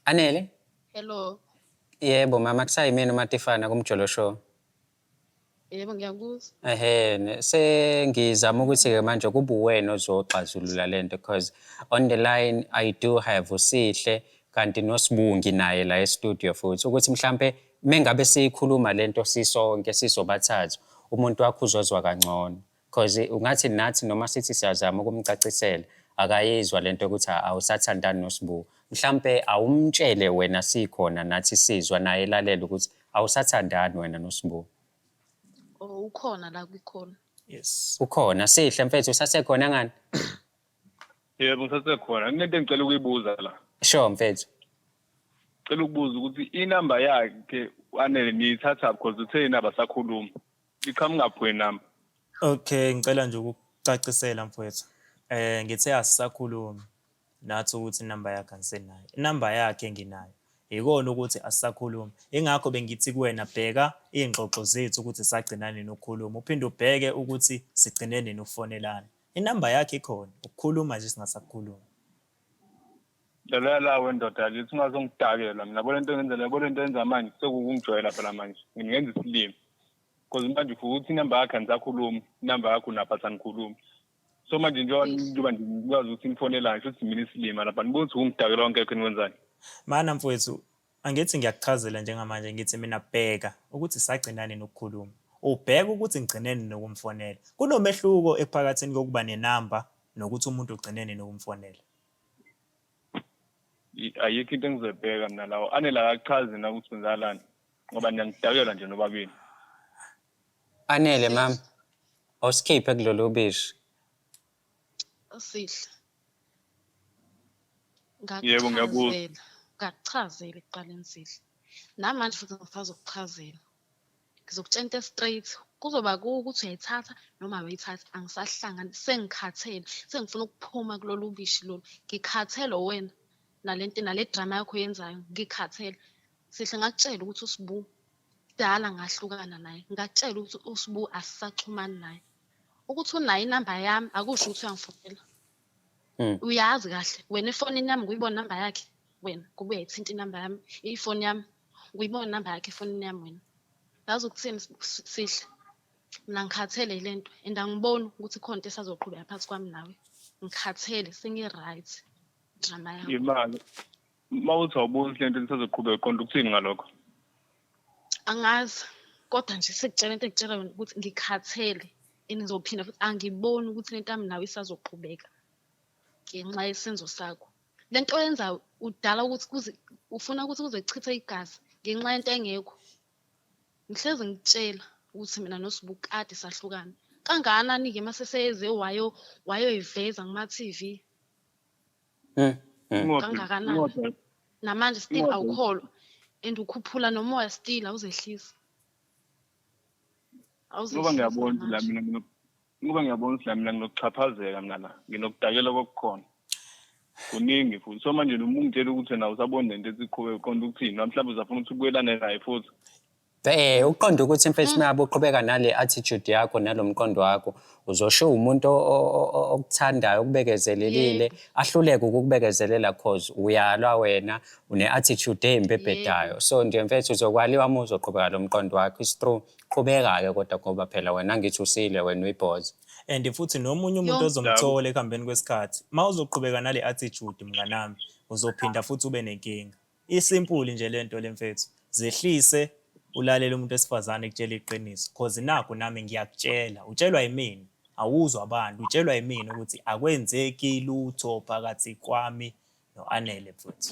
Anele? Hello. Yebo mama kusayimina uMatifana kumjolo show. Yebo ngiyakuzwa. Ehe, ne- sengizama ukuthi ke manje kube uwena ozoxazulula lento because on the line I do have uSihle kanti noSibungi naye la e-studio futhi ukuthi mhlambe mengabe siyikhuluma lento sisonke sizobathathu umuntu wakho uzozwa kangcono. Cause ungathi nathi noma sithi siyazama ukumcacisela akayizwa lento ukuthi awusathandani noSbu. Mhlampe awumtshele wena sikhona nathi sizwa naye lalela ukuthi awusathandani wena noSbu. Oh ukhona la kwikhona. Yes. Ukhona sihle mfethu usasekhona ngani? Yebo ngisasekhona. Kunento engicela ukuyibuza la. Sure mfethu. Cela ukubuza ukuthi inamba yakhe anele niyithatha because uthe nabasakhuluma. liqhamuka phi wena namba okay ngicela nje ukucacisela mfowethu eh ngithe asisakhulumi nathi ukuthi inamba yakhe angisenayo inamba yakhe nginayo yikona ukuthi asisakhulumi ingakho bengithi kuwena bheka iy'ngxoxo zethu ukuthi sagcina nini ukukhuluma uphinde ubheke ukuthi sigcine nini ukufonelana inamba yakhe ikhona ukukhuluma nje singasakhulumi Delela la wendoda yakithi ungazongidakela mina yabona into engenzela yabona into enza manje sekukungijwayela phela manje ngingenza isilimi because manje ufuka ukuthi inamba yakhe andisakhulumi inamba yakho unapha sanikhulumi so manje njengoba Yes. njengoba nje ngikwazi ukuthi nifonelani sho ukuthi mina isilima lapha nibuka ukuthi ungidakela wonke ekho niwenzani Mana mfowethu, angithi ngiyakuchazela njengamanje ngithi mina bheka ukuthi sagcinani nokukhuluma. Ubheka ukuthi ngigcineni nokumfonela. Kunomehluko ephakathini kokuba nenamba nokuthi umuntu ugcineni nokumfonela. ayikho into engizoyibheka mina lawo anele akachazi na ukuthi kwenzakalani ngoba niyangidakela nje nobabili anele mama awusikhiphe kulolu ubishi usihle Yebo, ngiyakuzwa. ngakuchazela ngakuchazela ekuqaleni sihle namanje futhi ngifuna ukuchazela ngizokutshela into e-straight kuzoba kuwe ukuthi uyayithatha noma awuyithathi angisahlangani sengikhathele sengifuna ukuphuma kulolu bishi lolu ngikhathele wena nalento nale drama yakho yenzayo ngikhathele sihle ngakutshela ukuthi usibu kudala ngahlukana naye ngakutshela ukuthi usibu asisaxhumani naye ukuthi unayo inamba yami akusho ukuthi uyangifonela Mm. uyazi kahle wena efonini yami nguyibona number yakhe wena kubuye ithinta inumber yami ifoni yami nguyibona number yakhe efonini yami wena yazi ukuthini S- S- sihle mina ngikhathele yile nto and angiboni ukuthi khona into esazoqhubeka phakathi kwami nawe ngikhathele sengi-right drama yakho imali uma uthi awuboni le nto lisazoqhubeka uqonda ukuthini ngalokho angazi kodwa nje sekutshela into engitshela yona ukuthi ngikhathele and ngizophinda futhi angiboni ukuthi le nto yami nawe isazoqhubeka ngenxa yesenzo sakho le nto oyenzayo udala ukuthi ufuna ukuthi kuze kuchithe igazi ngenxa yento engekho ngihlezi ngitshela ukuthi mina nosibukade sahlukana kangakanani-ke uma seseyeze wayo wayoyiveza kuma-tv Hmm, hmm. Inqodo- Kangakanani? inqodo- namanje still Ngoba- awukholwa and ukhuphula nomoya still awuzehlisi ngoba ngiyabona ukuthi la mina ngino- ngoba ngiyabona ukuthi la mina nginokuxhaphazeka mina la nginokudakela kokukhona kuningi futhi so manje noma ungitshela ukuthi na usabona nento esiqhube uqonda ukuthini noma mhlawumbe uzafuna ukuthi ubuyelane naye futhi Eh uqonda ukuthi mfethu mm. myabe uqhubeka nale attitude yakho nalomqondo wakho uzosho umuntu okuthandayo okubekezelelile ahluleke ukukubekezelela cause uyalwa wena une attitude embi ebhedayo so nje mfethu uzokwaliwa uma uzoqhubeka lomqondo wakho is true qhubeka ke kodwa ngoba phela wena ngithi usile wena uyibhoza and futhi nomunye umuntu ozomthola ekuhambeni kwesikhathi uma uzoqhubeka nale attitude mnganami uzophinda futhi ube nenkinga Isimpuli nje lento le mfethu. Zehlise ulalele umuntu wesifazane ekutshela iqiniso cause nakho nami ngiyakutshela utshelwa yimina awuzwa abantu utshelwa yimina ukuthi akwenzeki lutho phakathi kwami no-anele futhi